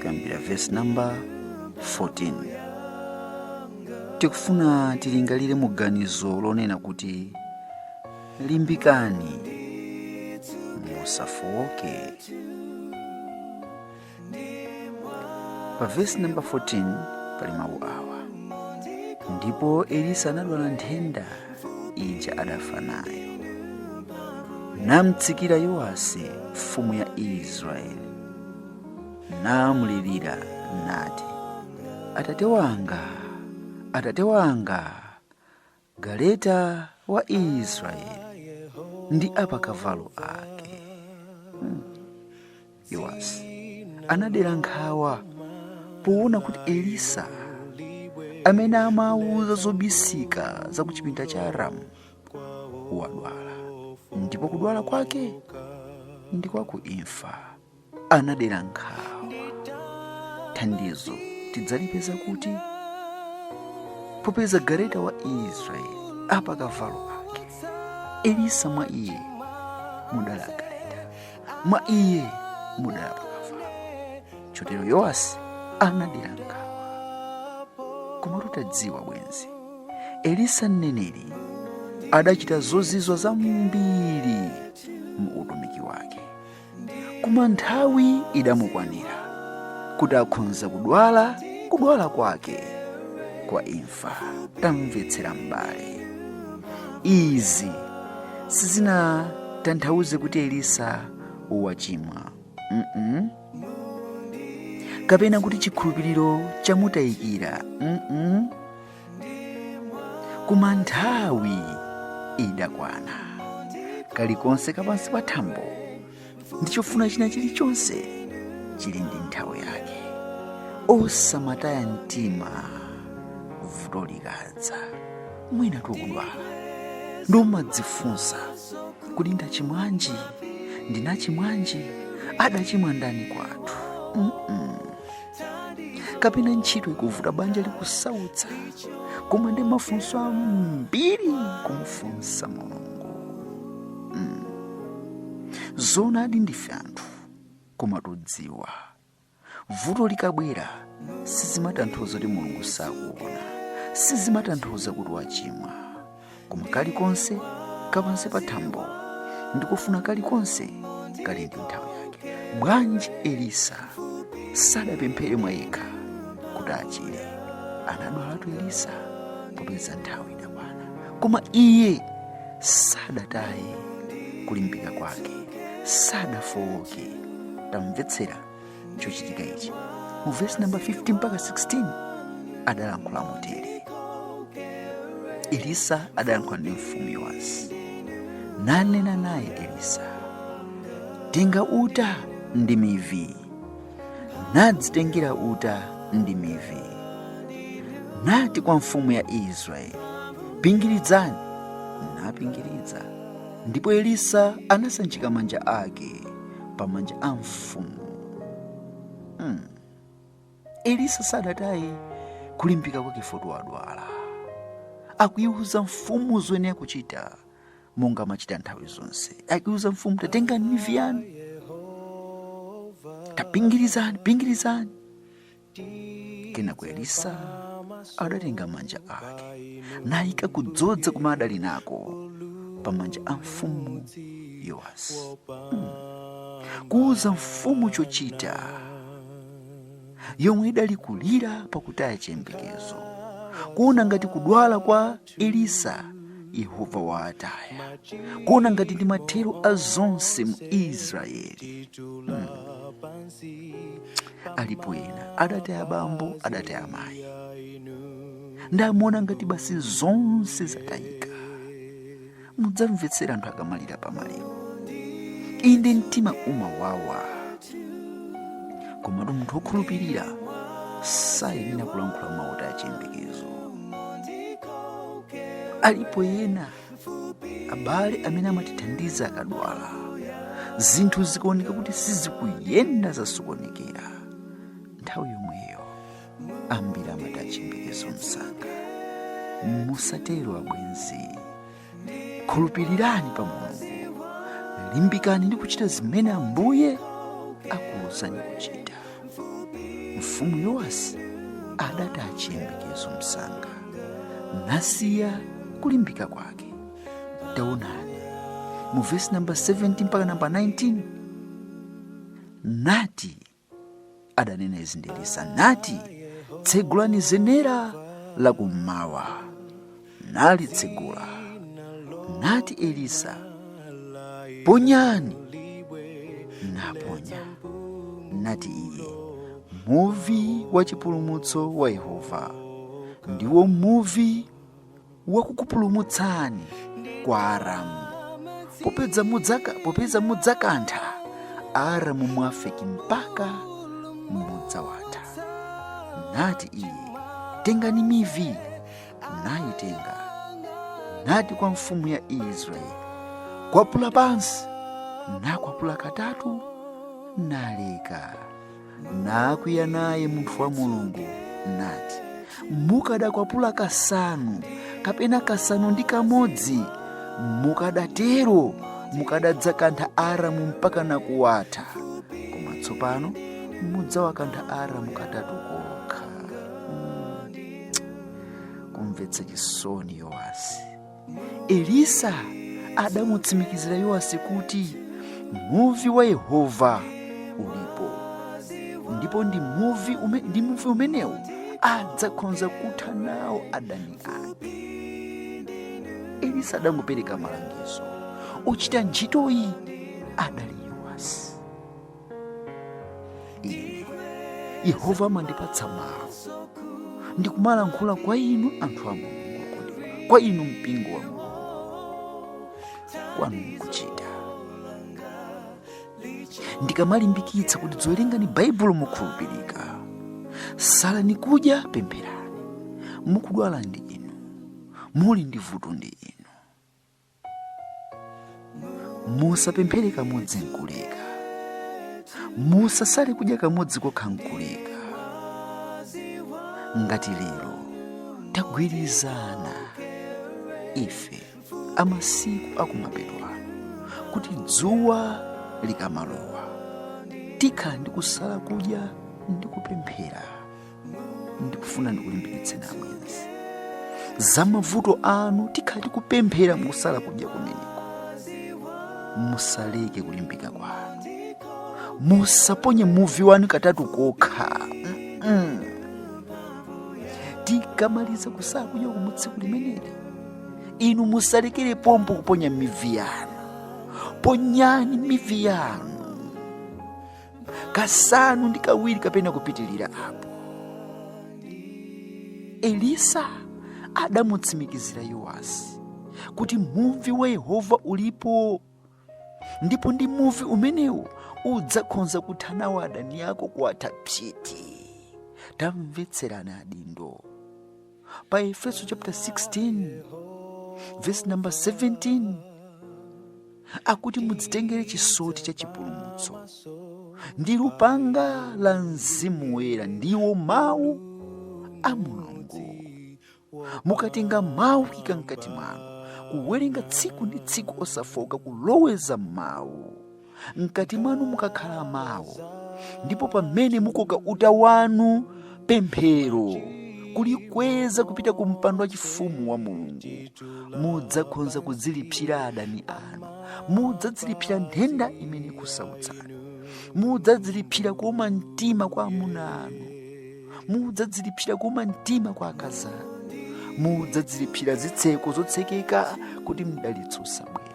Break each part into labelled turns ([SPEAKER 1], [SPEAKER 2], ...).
[SPEAKER 1] kuyambira vesi namba 14 tikufuna tilingalire mu ganizo lonena kuti limbikani musafowoke pa vesi namba 14 pali mawu awa ndipo elisa anadwala nthenda ija adafa nayo namtsikira yowasi mfumu ya israeli namlirira nati atate wanga atate wanga galeta wa israeli ndi apakavalo ake Yowasi anadera nkhawa poona kuti Elisa amene amawauza zobisika za ku chipinda cha Aramu wadwala ndipo kudwala kwake ndi kwa ku imfa. Anadera nkhawa. Thandizo tidzalipeza kuti popeza galeta wa Israeli apakavalo ake Elisa mwa iye mudala mwa iye mudala apakavalo chotero yowasi anadera nkhawa koma tutadziwa bwenzi elisa mneneri adachita zozizwa zambiri mu utumiki wake koma nthawi idamukwanira kuti akhonza kudwala kudwala kwake kwa imfa akufa tamvetsera m'bale izi sizinatanthauze kuti elisa wachimwa mm -mm. kapena kuti chikhulupiriro chamutayikira mm -mm. koma nthawi idakwana kalikonse kapansi pa thambo ndi chofuna china chilichonse chili ndi nthawi yake osamataya mtima vuto likadza mwina tukudwala ndi kumadzifunsa kuti ndachimwanji ndinachimwanji adachimwa ndani kwathu Mm-mm. kapena ntchito ikuvuta banja likusautsa koma ndi mafunso ambiri kumufunsa mulungu mm. zoonadi ndife anthu koma tudziwa vuto likabwera sizimatanthauza kuti mulungu sakuona sizimatanthauza kuti wachimwa koma kalikonse kapansi pa thambo ndi kufuna kalikonse kali ndi nthawi yake bwanji elisa sadapemphere mwa yekha kuti achire anadwalatu elisa popeza nthawi idakwana koma iye sadataye kulimbika kwake sadafowoke tamvetsera chochitika ichi mu vesi namba 15 mpaka 16 adalankhula motere elisa adalankhula ndi mfumu yowasi nanena naye elisa tenga uta ndi mivi nadzitengera uta ndi mivi nati kwa mfumu ya israeli pingiridzani napingiridza ndipo elisa anasanjika manja ake pamanja a mfumu hmm. elisa sadataye kulimbika kwake foti wadwala akuyiwuza mfumu zoyenera kuchita monga amachita nthawi zonse akuyiwuza mfumu tatengani mivi yanu tapingirizani pingirizani kenako elisa adatenga manja ake nayika kudzodza kumene adali nako pa manja a mfumu yowasi mm. kuuza mfumu chochita yomwe idali kulira pakutaya chiyembekezo kuona ngati kudwala kwa elisa yehova waataya kuona ngati ndi mathero a zonse mu israeli alipo ena adataya bambo adataya mayi ndamuona ngati basi zonse zatayika mudzamvetsera anthu akamalira pa maliro inde mtima umawawa komatu munthu wokhulupirira sayenera kulankhula mawu otaya chiyembekezo alipo ena abale amene amatithandiza akadwala zinthu zikaoneka kuti sizikuyenda zasokonekera nthawi yomweyo ambiri amataya chiyembekezo msanga musatero abwenzi khulupirirani pa mulungu limbikani ndi kuchita zimene ambuye akuwuzani kuchita mfumu yowasi adataya chiyembekezo msanga nasiya kulimbika kwake taonani mu vesi namba 17 mpaka namba 19 nati adanena izi ndi elisa nati tsegulani zenera la kummawa nalitsegula nati elisa ponyani naponya nati iye muvi wa chipulumutso wa yehova ndiwo muvi wakukupulumutsani kwa aramu popeza mudzaka popeza mudzakantha aramu m'Afeki mpaka mudzawatha nati iye tengani mivi nayitenga nati kwa mfumu ya israeli kwapula pansi nakwapula katatu naleka nakwiya naye munthu wa mulungu nati mukadakwapula kasanu kapena kasanu ndi kamodzi mukadatero mukadadzakantha aramu mpaka nakuwatha koma tsopano mudzawakantha aramu katatu kokha Mm. kumvetsa chisoni yowasi elisa adamutsimikizira yowasi kuti muvi wa yehova ulipo ndipo ndi muvi ume, ndi muvi umenewo adzakhonza kutha nawo adani ake elisa adangopereka malangizo wochita ntchitoyi adali yowasi ine yehova amandipatsa mawu ndikumalankhula kwa inu anthu a mulungu okondedwa kwa inu mpingo wa mulungu kwanu nkuchita ndikamalimbikitsa kuti dziwerengani baibulo mokhulupirika salani kudya pempherani wodwala ndi inu muli ndi vuto ndi inu musapemphere kamodzi nkuleka musasale kudya kamodzi kokha nkuleka ngati lero tagwirizana ife a masiku akumapeto kuti dzuwa likamalowa tikhala ndi kusala kudya ndi kupemphera ndikufuna ndikulimbikitseni abwenzi za mavuto anu tikhala tikupemphera mukusala kudya kumeneko musaleke kulimbika kwanu musaponye muvi wanu katatu kokha Mm-mm. tikamaliza kusala kudya kumutsiku limeneli inu musalekere pompo kuponya mivi yanu ponyani mivi yanu kasanu ndi kawiri kapena kupitirira apo elisa adamutsimikizira yowasi kuti muvi wa yehova ulipo ndipo ndi muvi umenewo udzakhonza kutha nawo adani ako kuwatha psiti tamvetserani adindo pa efeso chapter 16 verse number 17 akuti mudzitengere chisoti cha chipulumutso ndi lupanga la mzimu woyera ndiwo mawu a mulungu mukatenga mawu kuika mkati mwanu kuwerenga tsiku ndi tsiku osafooka kuloweza mawu mkati mwanu mukakhala mawu ndipo pamene mukoka uta wanu pemphero kulikweza kupita ku mpando wa chifumu wa mulungu mudzakhonza kudzilipsira adani anu mudzadzilipsira nthenda imene ikusautsani mudzadzilipsira kuuma mtima kwa amuna anu mudzadzilipsira kuuma mtima kwa akazi anu mudzadzilipsira zitseko zotsekeka kuti mdalitso usabwere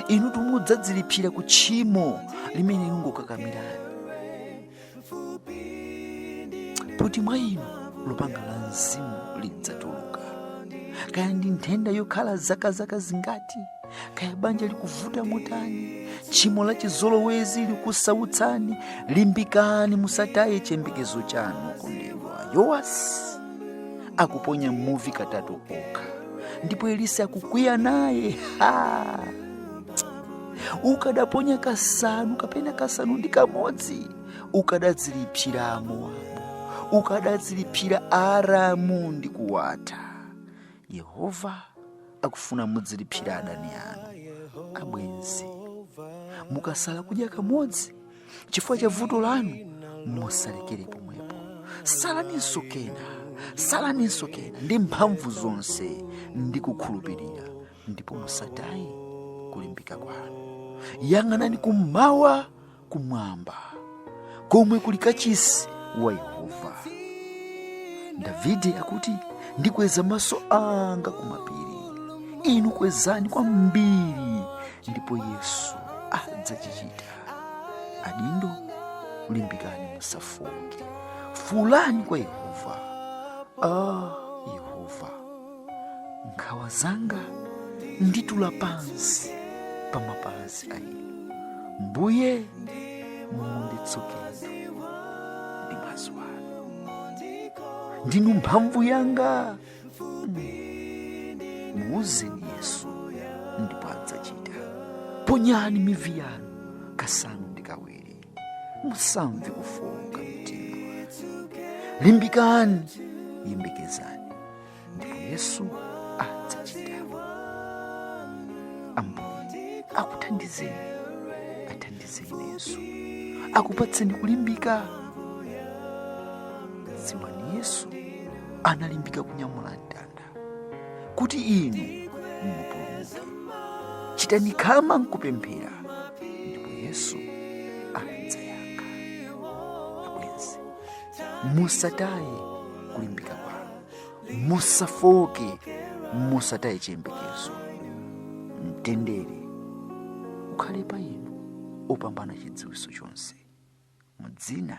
[SPEAKER 1] inutu mudzadzilipsira ku tchimo limene lingokakamirani kuti mwa inu lupanga la mzimu lidzatuluka kaya ndi nthenda yokhala zaka zaka zingati kaya banja likuvuta motani tchimo la chizolowezi likusautsani limbikani musataye chiyembekezo chanu okondedwa yowasi akuponya muvi katatu kokha ndipo elisa akukwiya naye ha ukadaponya kasanu kapena kasanu ndi kamodzi ukadadzilipsira amowabu ukadadzilipsira aramu ndi kuwatha yehova akufuna mudzilipsira adani anu abwenzi mukasala kudya kamodzi chifukwa cha vuto lanu musalekere pomwepo salaninso kena salaninso kena ndi mphamvu zonse ndi kukhulupirira ndipo musataye kulimbika kwanu yang'anani kummawa kumwamba komwe kuli kachisi wa yehova davide akuti ndikweza maso anga kumapiri inu kwezani kwambiri ndipo yesu adzachichita adindo limbikani musafooke fuulani kwa yehova ah, yehova nkhawa zanga nditula pansi pa mapazi a inu mbuye munditsukeni ndi mwazi wanu ndinu mphamvu yanga muuzeni yesu ndipo adzachita ponyani mivi yanu kasanu ndi kawiri musamve kufowoka mtima limbikani yembekezani ndipo yesu adzachita ambuye akuthandizeni athandizeni yesu akupatseni kulimbika dziwani yesu analimbika kunyamula mtanda kuti inu mupulumuke chitani khama nkupemphera ndipo yesu adzayankha abwenzi musataye kulimbika kwanu musafoke musataye chiyembekezo mtendere ukhale pa inu opambana chidziwitso chonse mu dzina